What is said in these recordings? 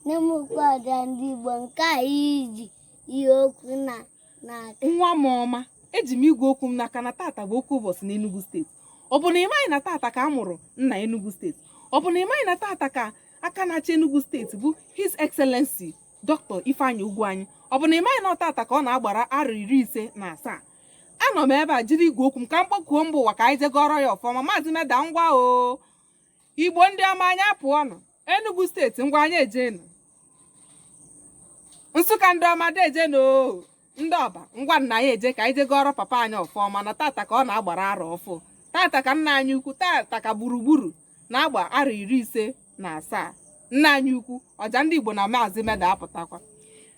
n'ime ụkpọada ndị Igbo nke a i ji igwe okwu na n'aka nwa m ọma eji m igwe okwu m n'aka na tata bụ oke ụbọchị n'Enugu steeti ọ bụ na ị maghị na tata ka a mụrụ nna Enugu steeti ọ bụ na ị maghị na tata ka aka na-achị Enugu steeti bụ His Excellency Dr. Ifeanyi Ugwuanyi ọ bụ na ị maghị na ọ tata ka ọ na-agbara arọ iri ise na asaa anọ m ebe a jiri igwe okwu m ka m kpọkuo mba ụwa ka anyị je gọrọ ya ọfọ ọma maazị meda ngwa o igbo ndị ọma anyị apụọnụ enugu steeti ngwa anyị ejenu nsụka ndị ọma dejenu o ndị ọba ngwanụ anyị eje ka anyị je gọrọ papa anyị ọfọ ọma na tata ka ọ na-agbara arọ ọfụ tata ka nna anyị ukwu tata ka gburugburu na-agba arọ iri ise na asaa nna anyị ukwu ọja ndị igbo na maazị meda apụtakwa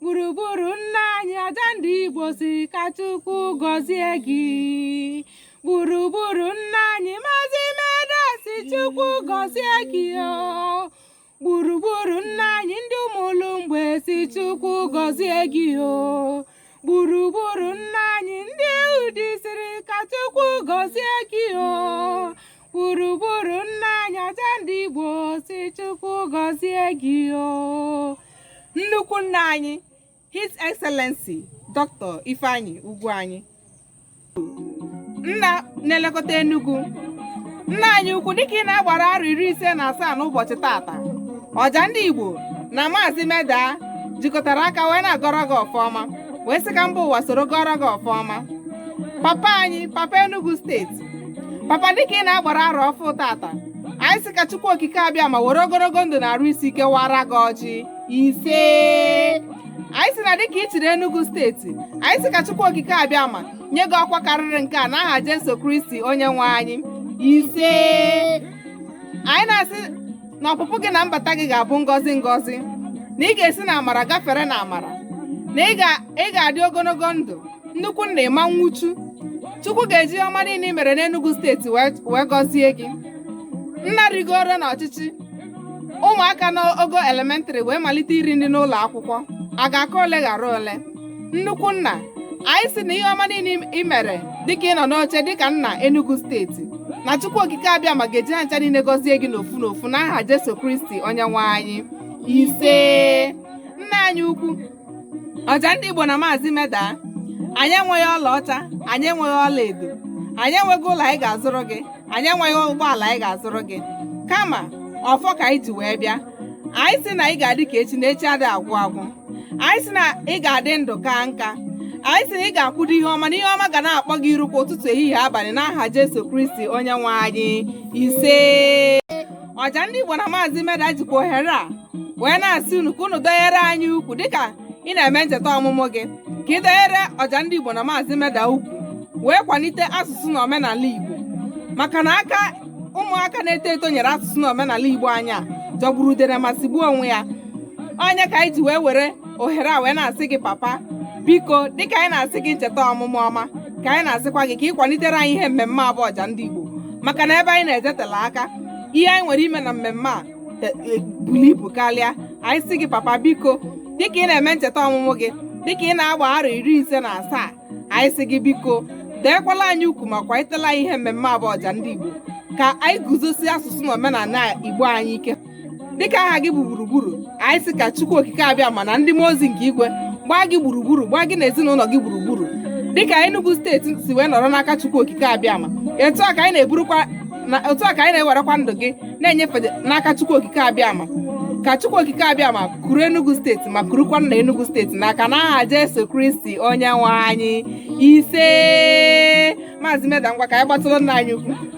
gburugburu nna anyị ọja ndị igbo si ka chukwu gọzie gị gburugburu nna anyị maazị meda si chukwu gọzie gị o gburugburu nna anyị ndị Umulumgbe si chukwu gọzie gị o gburugburu nna anyị ndị Udi siri ka chukwu gọzie gị o gburugburu nna anyị ọja ndị Igbo si Chukwu gọzie gị o nnukwu nna anyị His Excellency Dr. Ifeanyi Ugwuanyi nna na-elekọta Enugu nna anyị ukwu dịka ị na-agbara arọ iri ise na asaa n'ụbọchị tata ọja ndị Igbo na maazị Meda jikọtara aka wee na-agọrọ gị ọfọ ọma wee sị ka mba ụwa soro gọrọ gị ọfọ ọma papa anyị papa Enugu steeti papa dịka ị na-agbara arọ ọfụ tata anyị sị ka chukwu okike abịama were ogologo ndụ na arụ isi ike waara gị ọjị ise anyị sị na dịka ị chịrị enugu steeti anyị sị ka chukwu okike abịama nye gị ọkwa karịrị nke a n'aha jesu kristi onye nwe anyị ise anyị na-asị na ọpụpụ gị na mbata gị ga-abụ ngọzi ngọzi na ị ga-esi na amara gafere na amara na ị ga- ị ga-adị ogologo ndụ nnukwu nna ị ma nwụchu chukwu ga-eji ihe ọma niile i mere n'Enugu steeti wee wee gọzie gị nna rigoro n'ọchịchị ụmụaka n'ogo elementrị wee malite iri nri n'ụlọ akwụkwọ a ga-aka ole ghara ole nnukwu nna anyị si na ihe ọma niile ị mere dịka ị nọ n'oche dịka nna Enugu steeti na Chukwu okike abịama ga-eji ha ncha niile gọzie gị n'ofu n'ofu n'aha Jesu Kristi onye nwe anyị ise nna anyị ukwu ọja ndị Igbo na maazị meda anyị enweghị ọlaọcha anyị enweghị ọla edo anyị enweghị ụlọ anyị ga-azụrụ gị anyị enweghị ụgbọala anyị ga-azụrụ gị kama ọfọ ka anyị ji wee bịa anyị si na anyị ga-adị ka echi na echi ada agwụ agwụ anyị sị na ị ga-adị ndụ kaa nka anyị sị na ị ga-akwụdo ihe ọma na ihe ọma ga na-akpọ gị iru kwa ụtụtụ ehihie abalị n'aha Jesu Kristi onye nwe anyị ise ọja ndị Igbo na maazị Meda jikwa ohere a wee na-asị unu ka unu dọnyere anyị ukwu dịka ị na-eme ncheta ọmụmụ gị ka ị dọnyere ọja ndị Igbo na maazị Meda ukwu wee kwalite asụsụ na omenala Igbo maka na aka ụmụaka na-eto eto nyere asụsụ na omenala Igbo anyị a jọgburu udere ma sigbuo onwe ya ọ nya ka anyị ji wee were ohere a wee na-asị gị papa biko dịka anyị na-asị gị ncheta ọmụmụ ọma ka anyị na-asịkwa gị ka ị kwalitere anyị ihe mmemme a bụ ọja ndị Igbo maka na ebe anyị na-ejetela aka ihe anyị nwere ime na mmemme a e, e, buru ibu karịa anyị sị gị papa biko dịka ị na-eme ncheta ọmụmụ gị dịka ị na-agba arọ iri ise na asaa anyị sị gị biko dọnyekwala anyị ukwu ma kwalitela anyị ihe mmemme a bụ ọja ndị Igbo ka anyị guzosie asụsụ na omenala Igbo anyị ike dịka aha gị bụ gburugburu anyị sị ka chukwu okike abịama na ndị mmụọ ozi nke igwe gbaa gị gburugburu gbaa gị na ezinụlọ gị gburugburu dịka Enugu steeti si wee nọrọ n'aka chukwu okike abịama otu a ka anyị na-ewerekwa ndụ gị na-enyefe n'aka chukwu okike abịama ka chukwu okike abịama kuru Enugu steeti ma kurukwa nna Enugu steeti n'aka n'aha Jesu Kristi onye nwe anyị ise maazị Meda ngwa ka anyị gbatụrụ nna anyị ukwu